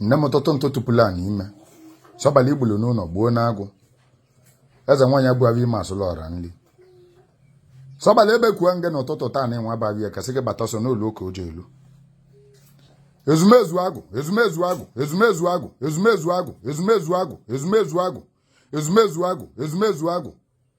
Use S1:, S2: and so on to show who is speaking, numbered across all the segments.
S1: nne m ụtụtụ ntụ tụpụrụ anyị ime sobali igbulu n'ụnọ gbuo n'agwụ eze nwaanyị abụghị ime asụlụ ọra nri sobali ebekuo ngị na ụtụtụ taanị nwa abaghị ya kasị gị bata ọsọ na olu ka o ji elu ezumezu agwụ ezumezu agwụ ezumezu agwụ ezumezu agwụ ezumezu agwụ ezumezu agwụ ezumezu agwụ ezumezu agwụ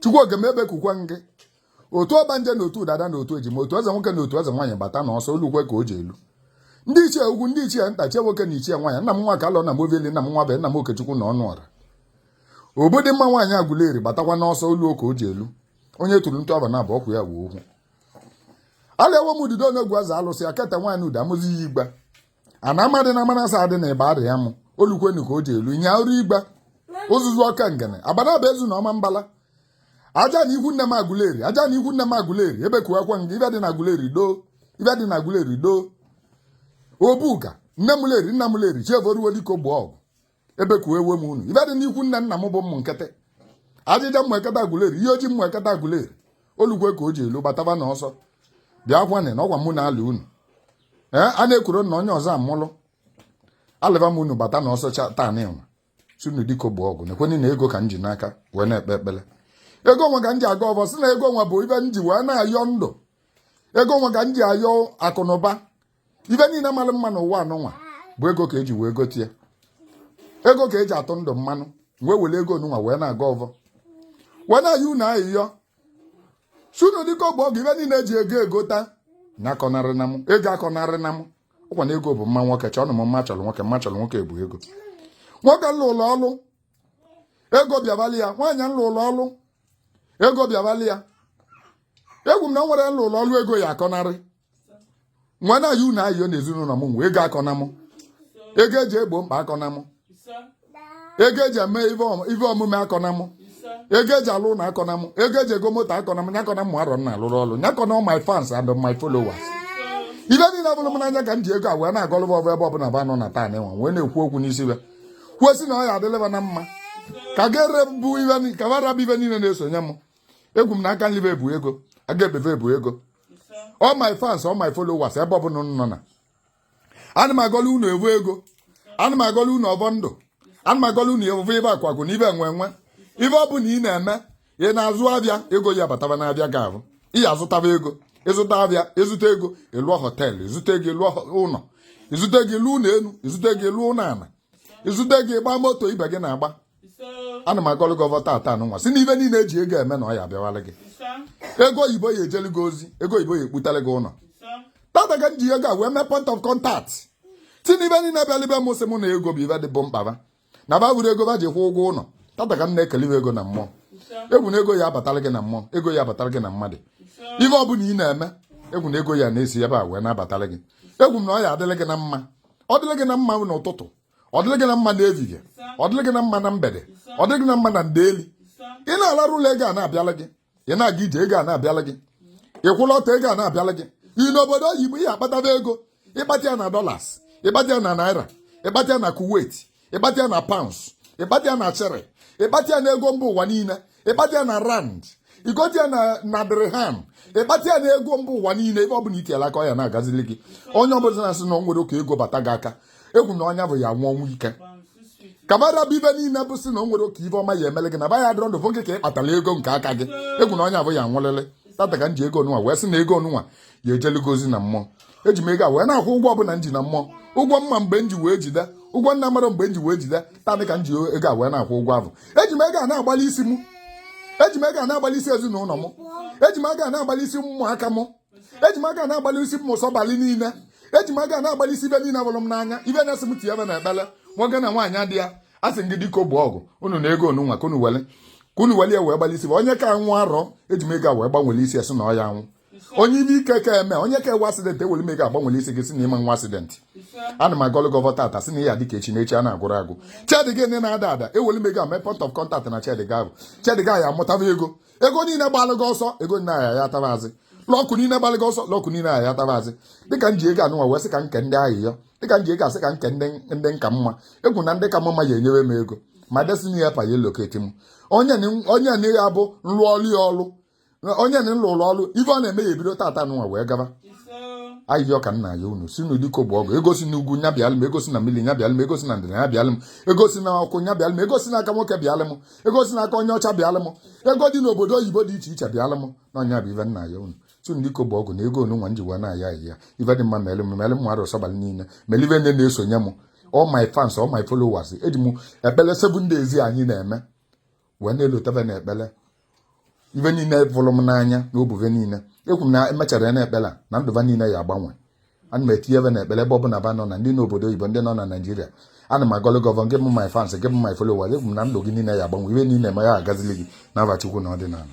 S1: chukwu oke m ebekukwe ngị otu ọgbanje na otu dada na otu ejima otu eze nwoke na otu eze nwaanyị bata na ọsọ olukwe ka o ji elu ndị ichie ukwu ndị ichie nta ichie nwoke na ichie nwaanyị nna m nwakalọ nna m obieli nna m nwa be nna m okechukwu na ọnụọra obidịmma nwaanyị agụleri batakwa n'ọsọ olu ka o ji elu onye tụrụ ntụ aba na abụ ọkwụ ya wee okwu ala ewe m ududo onegwu aza alụsị akata nwaanyị udo amụzi ya igba ana amadị na amanasa adị na ịba arịa mụ olukwenu ka o ji elu nya ọrụ igba ụzụzụ ọka ngene abana bụ ezu na ọmambala ajana ikwu nne m aguleri ajana ikwu nne m aguleri ebekuwakwa ngị ive dị na aguleri doo ive dị na aguleri doo obuga nne m leri nna m leri chievoruwo dịka ogbo ọgụ ebekuwe m unu ive dị n'ikwu nne nna m bụ ụmụ nkịtị ajịja ụmụekete aguleri iyi ọjị ụmụekete aguleri olukwe ka o ji elu gbataba na ọsọ bịa kwanị na ọkwa mụ na ala unu ee a na-ekwuru na onye ọzọ amụlụ alịba m unu bata na ọsọ taanị nwa sị unu dịka ogbo ọgụ nekwenụ na ego ka m ji n'aka wee na-ekpe ekpere ego nwa ka m ji agọ ọvọ sị na ego nwa bụ ive m ji wee na-ayọ ndụ ego nwa ka m ji ayọ akụ na ụba ive niile mara mma n'ụwa anụnwa bụ ego ka eji wee gote ya ego ka eji atụ ndụ mmanụ wee were ego onunwa wee na-agọ ọvọ wee na-ayọ unu ayịyọ sị unu dịka ogbo ọgụ ive niile eji ego egota nya akọnarịna m ego akọnarịna m ọkwa na ego bụ mma nwoke chọọnụ m mma chọrọ nwoke mma chọrọ nwoke bụ ego nwoke m lụụlụ ọlụ ego bịabalị ya nwaanyị m lụụlụ ọlụ ego bịabalị ya ekwu m na o nwere m lụụlụ ọlụ ego ya akọnarị wee na-ayọ unu ayọ na ezinụlọ m nwe ego akọna m ego eji egbo mkpa akọna m ego eji eme ife omume akọna m ego eji alụ ụlọ akọna m ego eji ego moto akọna m nya akọna mụ arọ na-alụrụ ọrụ nya akọna my fans and my followers ive niile vụrụ m n'anya ka m ji ego a wee na-agọlụ ọvọ ebe ọbụla ba nọ na taanị nwa wee na-ekwu okwu n'isi ya kwuo sị na ọ ya-adịlị ba na mma ka gere bụ ibe ka bara bụ ive niile na-esonye m ekwu m na aka nlibe ebu ego aga ebebe ebu ego all my fans all my followers ebe ọ bụla unu nọ na ana m agọlụ unu ọvọ ego ana m agọlụ unu ọvọ ndụ ana m agọlụ unu ọvọ ive akụ akụ na ive enwe enwe ive ọ bụla ị na-eme ị na-azụ avịa ego ya bataba n'avịa gị avụ ị ya-azụtaba ego ịzụta avịa ịzụta ego ịlụọ hotel ịzụta ego ịlụọ ụnọ ịzụta ego ịlụ ụnọ enu ịzụta ego ịlụ ụnọ ana ịzụta ego ịgba moto ibe gị na-agba ana m agọlụ gị ọvọ tata nụnwa sị na ive niile e ji ego eme na ọ ya abịawala gị ego oyibo ya ejelu gị ozi ego oyibo ya ekputara gị ụlọ tata ka m ji ego a wee mee point of contact sị na ibe niile bịalụ be m sị mụ na ego bụ ive dị ba mkpa na ba avụrọ ego ba ji kwụ ụgwọ ụlọ tata ka m na-ekele ego na mmụọ ekwu m na ego ya abatara gị na mmụọ ego ya abatara gị na mmadụ ihe ọ bụla ị na-eme ekwu m na ego ya na-esi ebe a wee na-abatara gị ekwu m na ọ ya adịrị gị na mma ọ dịrị gị na mma n'ụtụtụ ọ dịrị gị na mma n'ehihie ọ dịrị gị na mma na mgbede ọ dịrị gị na mma na ndeli ị na-alarụ ụla ego a na-abịala gị ị na-aga ije ego a na-abịala gị ị kwụlụ ọtọ ego a na-abịala gị ị nọ obodo oyibo ị ya akpataba ego ị kpata ya na dollars ị kpata ya na naira ị kpata ya na kuwait ị kpata ya na pounds ị kpata ya na shilling ị kpata ya na ego mba ụwa niile ị kpata ya na rand i gote ya na dirham ị kpata ya na ego mba ụwa niile ebe ọ bụla i tielu aka ọ ya na-agazili gị onye ọbụla na-asị na o nwerọ ka ego bata gị aka ekwu m na onye avụ ya anwụ ọnwụ ike ka ba ra bụ ibe niile bụ sị na o nwerọ ka ive ọma ya emele gị na ba ya dịrọ ndụ fụ gị ka ị kpatara ego nke aka gị ekwu m na onye avụ ya anwụlịlị tata ka m ji ego nụnwa wee sị na ego nụnwa ya ejeli gị ozi na mmụọ eji m ego a wee na-akwụ ụgwọ ọbụla m ji na mmụọ ụgwọ m ma mgbe m ji wee jide ụgwọ m na-amarọ mgbe m ji wee jide tata ka m ji ego a wee na-akwụ ụgwọ ahụ eji m ego a na-agbalị isi m eji m ego a na-agbalị isi ezinụlọ m eji m ego a na-agbalị isi ụmụaka m eji m ego a na-agbalị isi m ụsọbalị niile eji m ego a na-agbalị isi ibe niile fụrụ m n'anya ibe na-asị m tinye be na ekpele nwoke na nwaanyị adị ya a sị gị dịka bụ ọgụ unu na ego nụnwa ka unu wele ka unu wele ya wee gbalị isi onye ka anwụ arọ eji m ego a wee gbanwere isie sị na ọ ya anwụ onye ive ike ka eme onye ka enwe accident ewere m ego a gbanwere isi gị sị na ị ma enwe accident ana m agọlụ gị ọvọ tata sị na ya dịka echi n'echi a na-agụrụ agụ shed gị ndị na-ada ada ewere m ego a mee point of contact na shed gị ahụ shed gị ya amụtaba ego ego niile gbalụ gị ọsọ ego niile ahịa ya taba azị luck niile gbalụ gị ọsọ luck niile ahịa ya taba azị dịka m ji ego a nụnwa wee sị ka nke ndị ahụ ya dịka m ji ego a sị ka nke ndị ka m mma ekwu m na ndị ka m mma ya enyewe m ego my destiny helper ya elocate m onye na ya bụ nrụọrụ ya ọrụ onye na m lụlụ ọlụ ife ọ na-eme ya ebido tata nụnwa wee gaba ayịyọ ka m na-ayọ unu sị n'udiko bụ ọgụ ego si na ugwu nya bịalụ m ego si na mmiri nya bịalụ m ego si na ndịda nya bịalụ m ego si na ọkụ nya bịalụ m ego si na aka nwoke bịalụ m ego si na aka onye ọcha bịalụ m ego dị n'obodo oyibo dị iche iche bịalụ m na ọ nya bụ ife m na-ayọ unu sị n'udiko bụ ọgụ na ego nụnwa m ji wee na-ayọ ayịyọ ife dị mma mere m mere m mmadụ sọbalị niile mere ife ndị na-esonye m all my fans all my followers eji m ekpere seven days anyị na-eme wee na-elota be na ekpele ibe niile fụrụ m n'anya na ọ bụ ve niile ekwu m na emechara ya na ekpele na ndụ ba niile ya agbanwe ana m etinye be na ekpele ebe ọbụla ba nọ na ndị nọ obodo oyibo ndị nọ na naịjirịa ana m agọlụ gị ọvọ gị bụ my fans gị bụ my followers ekwu m na ndụ gị niile ya agbanwe ive niile ma ya agazili gị n'afa Chukwu na ọdịnala